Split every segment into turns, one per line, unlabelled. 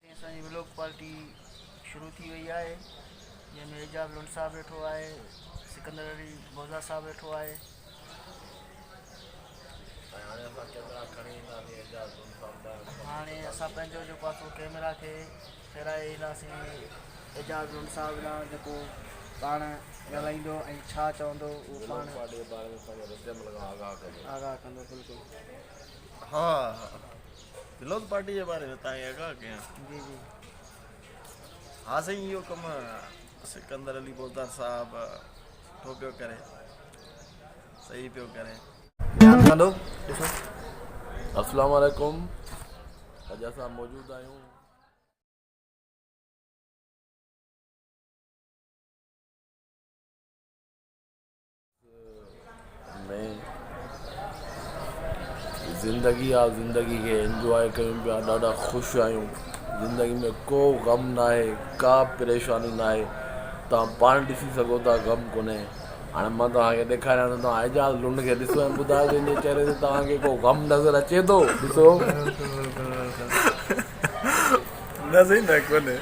۽ اسان جي vlog party شروع ٿي وئي آهي جنهن ۾ اعجاز لنڊ صاحب ويٺو آهي سڪندر علي بوزا صاحب ويٺو آهي ۽ هاڻي اسان ڪيميرا کڻي اينداسين اعجاز لنڊ صاحب لاء هاڻي اسان پنهنجو جيڪو آهي سو ڪيميرا کي ڦيرائي اينداسين اعجاز لنڊ صاحب ڏانهن جيڪو پاڻ ڳالهائيندو ۽ ڇا چوندو اهو پاڻ ولوگ پارٽي جي باري ۾ پنهنجي رد عمل کان آگاهه ڪندو آگاهه ڪندو بلڪل ها
بلوز پارٽي جي باري ۾ تان کي آگاهه ڪيان. جي جي. ها سائين اهو ڪم سڪندر علي بوزدار صاحب سٺو پيو ڪري صحيح پيو ڪري. هلو
ڏسو
اسلام عليڪم اڄ اسان موجود آهيون. ۾ زندگي آ زندگي کي انجواء ڪيون پيا ڏاڍا خوش آهيون زندگي ۾ ڪو غم ناهي ڪا پريشاني ناهي تان پاڻ ڏسي سگهو ٿا غم ڪونهي هاڻي مان توهان کي ڏيکاريان ٿو توهان اعجاز لنڊ کي ڏسو ۽ ٻڌايو ته ان جي چهري تي توهان کي ڪو غم نظر اچي ٿو ڏسو نه سائين نه ڪونهي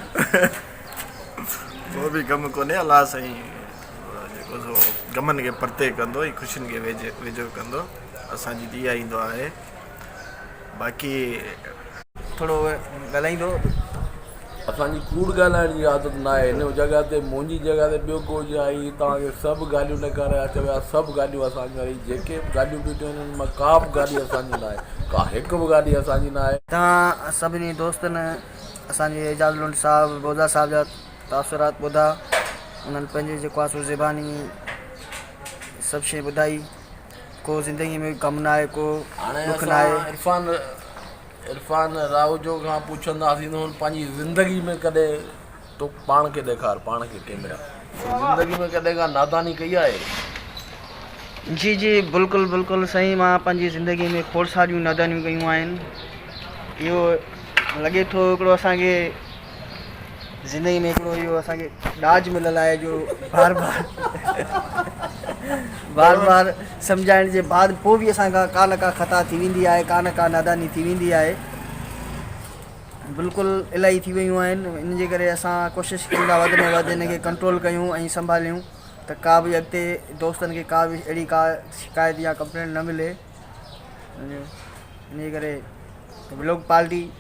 ڪو به غم ڪونهي الله سائين جيڪو سو غمن کي پرتي ڪندو ۽ خوشين کي ويجهو ڪندو اسان جي ته اها ئي دعا آهي باقي
ٿورو ڳالهائيندو
اسان جي ڪوڙ ڳالهائڻ جي عادت نه آهي ان جڳهه تي منهنجي جڳهه تي ٻيو ڪو هجي ها هي توهان کي سڀ ڳالهيون نه ڪري ها چوي ها سڀ ڳالهيون اسان جون آهن هي جيڪي به ڳالهيون ٻيٺيون آهن ان مان ڪا به ڳالهي اسان جي نه آهي ڪا هڪ به ڳالهي اسان جي نه آهي. توهان سڀني
دوستن اسان جي اعجاز لنڊ صاحب بوزا صاحب جا تاثرات ٻڌا انهن پنهنجي جيڪو آنسو زباني سڀ شيء ٻڌائي ڪو زندگي ۾ غم نه آهي ڪو ڏک نه آهي عرفان
عرفان راهوجو کان پڇنداسين ته هن پنهنجي زندگي ۾ ڪڏهن تو پاڻ کي ڏيکار پاڻ کي ڪيمرا زندگي ۾ ڪڏهن ڪا ناداني ڪئي آهي
جي جي بلڪل بلڪل سائين مان پنهنجي زندگي ۾ کوڙ ساريون نادانيون ڪيون آهن اهو لڳي ٿو هڪڙو اسان کي زندگي ۾ هڪڙو اهو اسان کي ڏاج مليل آهي جو بار بار بار بار سمجهائڻ جي بعد پوء به اسان کان ڪا نه ڪا خطا ٿي ويندي آهي ڪا نه ڪا ناداني ٿي ويندي آهي بلڪل الائي ٿي ويون آهن ان جي ڪري اسان ڪوشش ڪيون ٿا وڌ ۾ وڌ ان کي ڪنٽرول ڪيون ۽ سنڀاليون ته ڪا به اڳتي دوستن کي ڪا به اهڙي ڪا شڪايت يا ڪمپلينٽ نه ملي ان جي ڪري بلوڪ پارٽي